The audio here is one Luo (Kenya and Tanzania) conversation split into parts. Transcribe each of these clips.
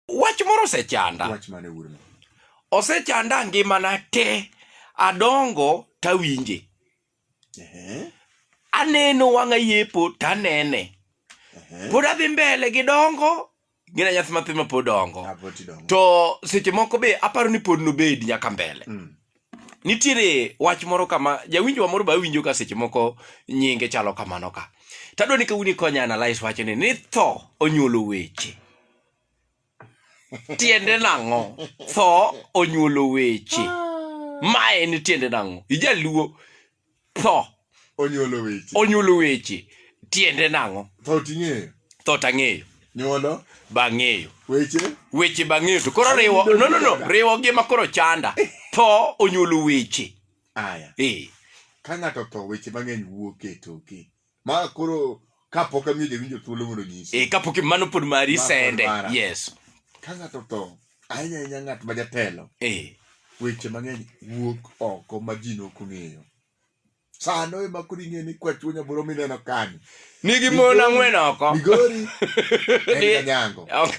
wach moro osechanda wach mane wuorno osechanda ngimana te adongo tawinje ehe aneno wang'a yepo tanene ehe pod adhi mbele gi dongo gina nyathi mathe ma pod dongo aboti dongo to seche moko be aparo ni pod nobed nyaka mbele Mm. nitiere wach moro kama jawinjowa moro ba winjo ka seche moko nyinge chalo kamano ka tadwa ni kawuni konya analyse wachni ni tho onyuolo weche tiende nang'o tho onyuolo weche ma en tiende nang'o ijaluo tho onyuolo weche onyuolo weche tiende nang'o tho ting'eyo tho tang'eyo nyuolo bang'eyo weche weche bang'eyo to koro riwo no no no riwo gi ma koro chanda tho onyuolo weche aya ee ka ng'ato tho weche mang'eny wuok e toke ma koro kapok amiyo jawinjo thuolo mondo onyisi e kapok mano pod mari Ma pod sende mara. yes ka ng'ato tho ahinya ahinya ng'at ma jatelo e weche mang'eny wuok oko ma ji nok ong'eyo sano ema koro ing'eyo ni kwachuo nyaboro mineno kani nigi mon ang'wen oko migori en Ni- kanyango Ok.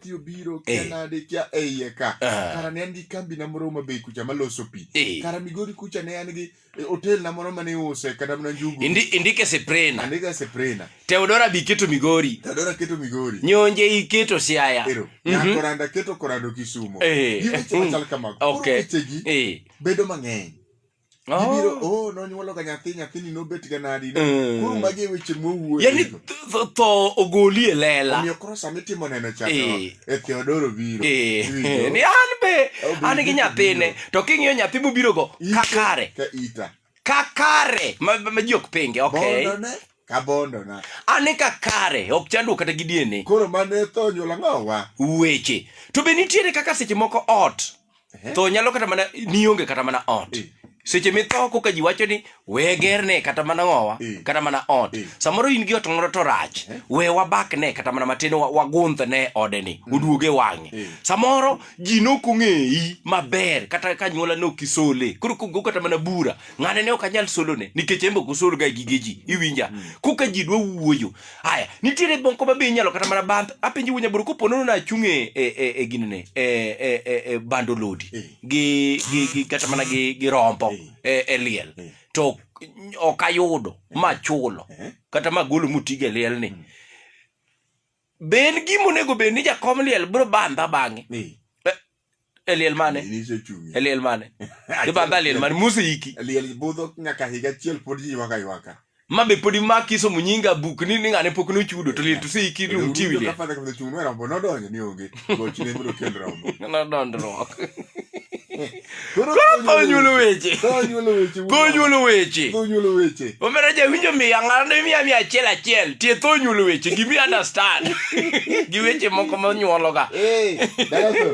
pi obiro kia Eh. nade kia e iye ka Ah. kara ne an gi kambi na moro ma bei kucha maloso pi Eh. kara migori kucha ne an gi eh, hotel na moro mane use kata mana njugu Indi, indike seprena andika seprena teodora biketo migori tadora keto migori nyonje iketo siaya ero Mhm. nyakoranda keto korando kisumo Eh. giweche machal kamago Koro Okay. wechegi Eh. bedo mang'eny Ibiro, Oh. oh, nonyuolo ga nyathi, nyathini nobet ga nadi. Mm. Koro magi e weche mwowuoye. Yani tho- tho ogoli e lela. Omiyo koro sama itimo neno cha to Eh. e Theodoro biro. Eh, Iwinjo? ni an be Obi- an gi nyathine to king'iyo nyathi mobiro go Ite kakare Ka ita. kakare ma, ma ji ok pinge okay Bondone ka bondona. an e kakare ok chandruok kata gi DNA Koro mane tho nyuola ng'owa. weche to be nitiere kaka seche moko ot Eh? tho nyalo kata mana nionge kata mana ot eh. seche mitho koka ji wacho ni we gerne kata mana ng'owa eh. kata mana ot samoro in gi ot moro to rach we wabak ne kata mana matin wagundh ne ode ni mm. oduoge wang'e samoro ji nok ong'eyi maber kata ka nyuola ne ok isole koro kogo kata mana bura ng'ane ne ok anyal solone nikech embe ok osolga gige ji iwinja mm. koka ji dwa wuoyo Haya, nitiere moko ma be inyalo kata mana bandh apenji wunya buru kopo nono nachung' e e e, e gini ne e e e, e bando lodi Eh. gi gi gi kata mana gi gi rombo e, e liel Eh. to ok ayudo ma chulo Eh. kata ma golo mutigo e liel ni be en gima onego bed ni jakom liel biro bandha bang'e Eh. e liel mane e liel mane ibadha liel mane musi iki e liel budho nyaka higa achiel pod ji ywaka ywaka ma be podi ma kiso munyinga buk ni ni ngane pok nochudo to liel to si iki lu tiwi liel kafadha kama chung wera mbo nodonjo ni onge goch ne mro kel rombo na dondrok Koro konyulo weche. Konyulo weche. Konyulo weche. Konyulo weche. Omera jawinjo miya ng'ano ne miya miya achiel achiel tieth onyulo weche gimi understand gi weche moko monyuologa Eh, dalaso.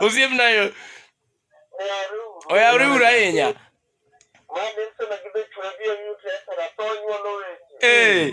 osiepna yo oyawre uru ahinya Mane sema gidhi chwe bi oyute sera to nyuolo weche. ee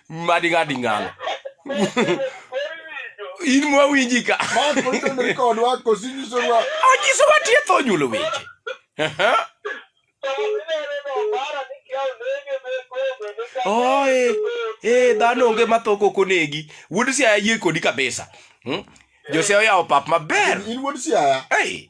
madiga ding'ano in mwawinji ka onyiso watietho onyulo weche oe e dhano onge matho kok onegi wuod siaya yie kodi kabisa hmm? jose oyawo pap maber in wuod siaya hey.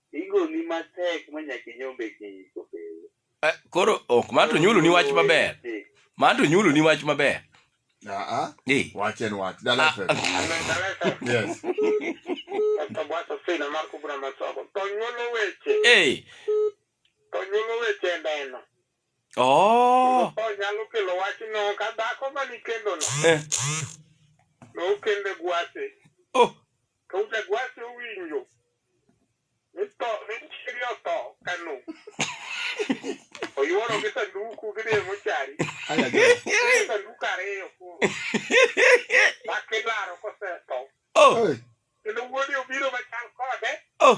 Igoni matek ma nyaka inyombe gi iko pile. Eh, Koro ok ma to nyulu ni wach maber. Ma to nyulu ni wach maber. Aa, Eh. wach en wach. Dala FM. Yes. Tabwato sina mar kubra masoko. To nyulo weche, Eh. to nyulo weche e ndeno. Oh. To nyalo kelo wachno ka dhako ma nikendo no. Eh. Nokende gwase. Oh. To jagwasi owinjo. Nito, nichiri otho kanu. Oyuoro gi sanduku gidhi e mochari. Aya go. Gidhi sanduku ariyo koro. Mak ilaro kosetho. Oh, Hey, Kendo wuodi obiro machal kode. oh.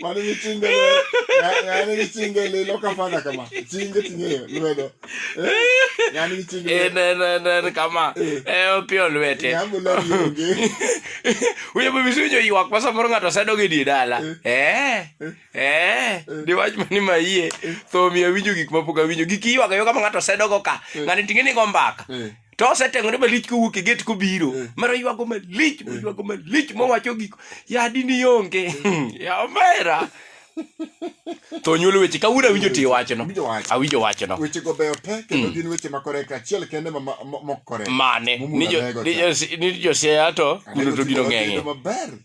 mano gi chinge ng'ani gi chinge lilo kafana kama chinge ting'eyo lwedo ng'ani gi chinge en en en en kama e opio lwete nyambulo yonge uye bibi sunyo ywak ma samoro ng'ato sedo gi di dala eh eh di wach mani ma yie tho miya winjo gik ma pok awinjo gik ywak yo kama ng'ato sedo go ka ng'ani ting'e ni go mbaka to oseteng'ore malich kowuok e gate kobiro Eh. mara ywago malich moywago malich mowacho gik yadi ni onge ya omera to nyuolo weche kawuono awinjo ti wachno Awinjo wach. awinjo wachno weche go beyo te kendo gin weche ma koreka achiel kende ma- ma- ma- mok koreka mane Mumula ni jo- nego ni cha. jo- ni josiaya to kuno to gino ng'eng'e maber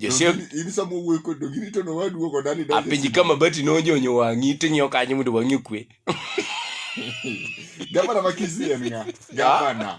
Jose in sama wuoyo kod dogi rito no waduo kod ani donjo. apenji ka mabati nonjonyo wang'i ting'iyo kanyo mondo wang'i okwe Gavana ma Kisii en ng'a? Gavana.